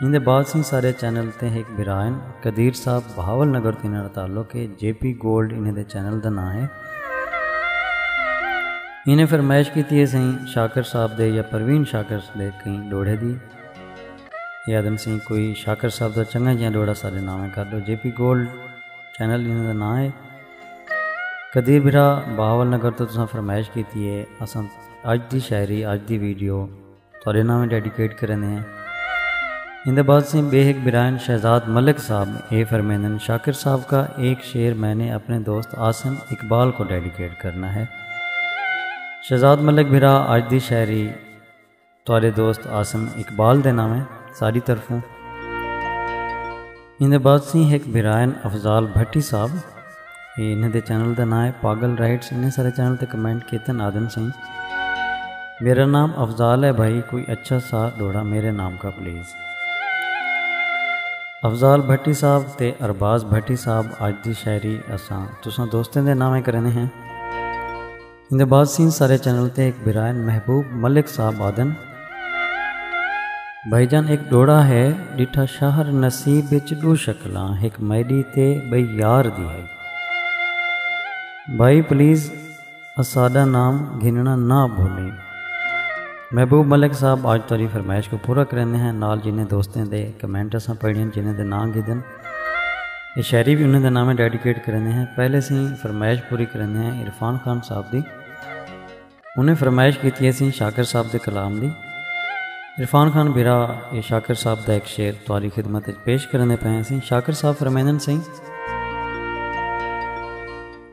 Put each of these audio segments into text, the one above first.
ایندے بعد سئیں سارے چینل تے ہک بھرا ہن قدیر صاحب بہاول نگر توں انہاں دا تعلق ہے جے پی گولڈ انہاں دے چینل دا ناں ہے۔ انہیں فرمائش کیتی ہے سئیں شاکر صاحب دے یا پروین شاکر دے کہیں ڈوہڑے دی۔ ایہ آدھن سئیں کوئی شاکر صاحب دا چنگا جیہاں ڈوہڑا ساڈے ناویں کر ڈو جے پی گولڈ چینل انہاں دا ناں ہے۔ قدیر بھرا بہاول نگر توں تساں فرمائش کیتی ہے اساں اج دی شاعری اج دی ویڈیو تہاڈے ناویں ڈیڈیکیٹ کریندے ہیں۔ ایندے بعد سیں بے ہک برائن شہزاد ملک صاحب اے فرمیندن شاکر صاحب کا ایک شعر میں نے اپنے دوست عاصم اقبال کو ڈیڈیکیٹ کرنا ہے۔ شہزاد ملک بھرا اج دی شاعری تہاڈے دوست عاصم اقبال دے ناویں ساڈی طرفوں۔ ان دے بعد سی ہک بھرائن افضال بھٹی صاحب اے انہاں دے چینل دا نام ہے پاگل رائٹس انہیں سارے چینل تے کمنٹ کیتن آدن سائیں میرا نام افضال ہے بھائی کوئی اچھا سا ڈوڑا میرے نام کا پلیز افضال بھٹی صاحب تے ارباز بھٹی صاحب آج دی شاعری اساں تساں دوستیں دے نامیں کرنے ہیں اندے بعد سین سارے چینل تے ایک برائن محبوب ملک صاحب آدن بھائی جان ایک ڈوڑا ہے ڈٹھا شہر نصیب بچ دو شکلاں ایک میڈی تے بھائی یار دی ہے بھائی پلیز اسادہ نام گھننا نہ بھولے محبوب ملک صاحب آج تاری فرمائش کو پورا کرنے ہیں نال جنہیں دوستیں دے کمنٹ اساں پڑھیں جنہیں دے نام گھدن اے شاعری وی انہاں دے ناویں ڈیڈیکیٹ کریندے ہیں پہلے سیں فرمائش پوری کریندے ہیں عرفان خان صاحب دی انہیں فرمائش کیتی ہے سیں شاکر صاحب دے کلام دی عرفان خان بھرا اے شاکر صاحب دا ایک شعر توالی خدمت پیش کریندے پئے ہیں سیں شاکر صاحب فرمائندن سیں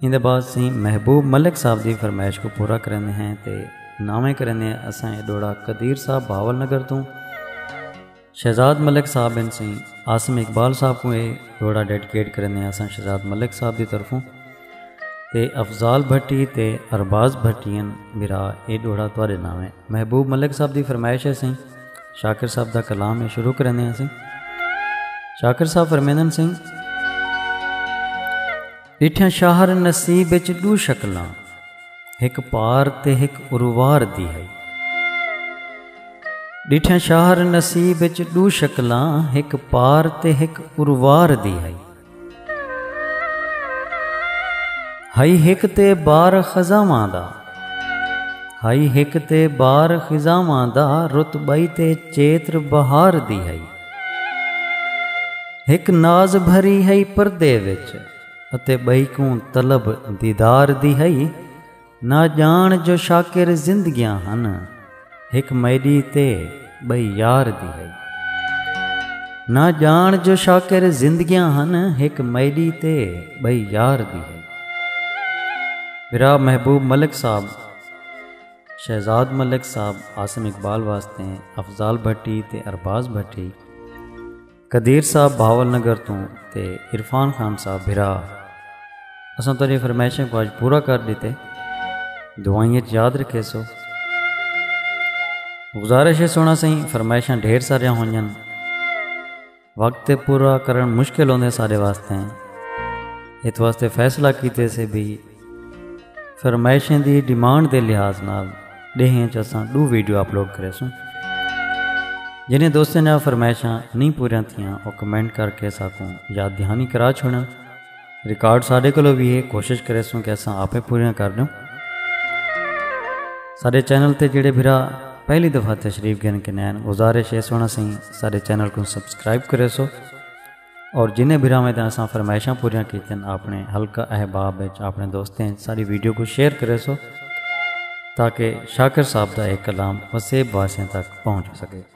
ایندے بعد سیں محبوب ملک صاحب دی فرمائش کو پورا کریندے ہیں تے ناویں کریندے ہیں اساں اے ڈوڑا قدیر صاحب بھاول نگر توں شہزاد ملک صاحب ان سیں عاصم اقبال صاحب کو اے ڈوڑا ڈیڈیکیٹ کریندے ہیں اساں شہزاد ملک صاحب دی طرفوں تے افضال بھٹی تے ارباز بھٹین برا اے ڈوڑا تواڈے ناویں محبوب ملک صاحب دی فرمائش ہے سیں شاکر صاحب دا کلام اے شروع کریندے ہیں سیں شاکر صاحب فرمیندن سیں ڈٹھیاں شاہر نصیب اچ ڈو شکلاں ہک پار تے ہک اروار دی ہئی ڈٹھیاں شاہر نصیب اچ ڈو شکلاں ہک پار تے ہک اروار دی ہئی ہائی ہک تے بار خزاواں دا ہائی ہک تے بار خزاواں دا رتبائی تے چیتر بہار دی ہائی ہک ناز بھری ہئی پردے وچ اتے بئی کوں طلب دیدار دی ہئی نہ جان جو شاکر زندگیاں ہن ہک میڈی تے بئی یار دی ہئی نہ جان جو شاکر زندگیاں ہن ہک میڈی تے بئی یار دی ہئی برا محبوب ملک صاحب شہزاد ملک صاحب عاصم اقبال واسطے افضال بھٹی تے ارباز بھٹی۔ قدیر صاحب بھاول نگر توں تے عرفان خان صاحب بھرا۔ اساں تہاڈیاں فرمائشاں کوں اج پورا کر ڈتے۔ دعائیں اچ یاد رکھیسو۔ گزارش ہے سونا سئیں فرمائشاں ڈھیر ساریاں ہونجن۔ وقت تے پورا کرن مشکل ہوندے سارے واسطے ہیں اس واسطے فیصلہ کیتے سے بھی فرمائشیں دی ڈیمانڈ دے لحاظ نال ڈیہن چساں دو ویڈیو اپلوڈ کرے سوں جنہیں دوستیں نے فرمائشاں نہیں پوریاں تھیاں وہ کمنٹ کر کے ساکوں یاد دہانی کرا چھوڑیں ریکارڈ ساڈے کولو وی ہے کوشش کریسوں کہ اساں آپے پوریاں کر ڈوں ساڈے چینل تے جڑے بھرا پہلی دفعہ تشریف گن کے نین گزارش ہے سونا سیں ساڈے چینل کو سبسکرائب کریسو اور جنہیں بھرا میں دن اساں فرمائشاں پوریاں کیتن اپنے حلقہ احباب وچ اپنے دوستیں ساری ویڈیو کو شیئر کریسو تاکہ شاکر صاحب دا ایک کلام وسیب واسیں تک پہنچ سکے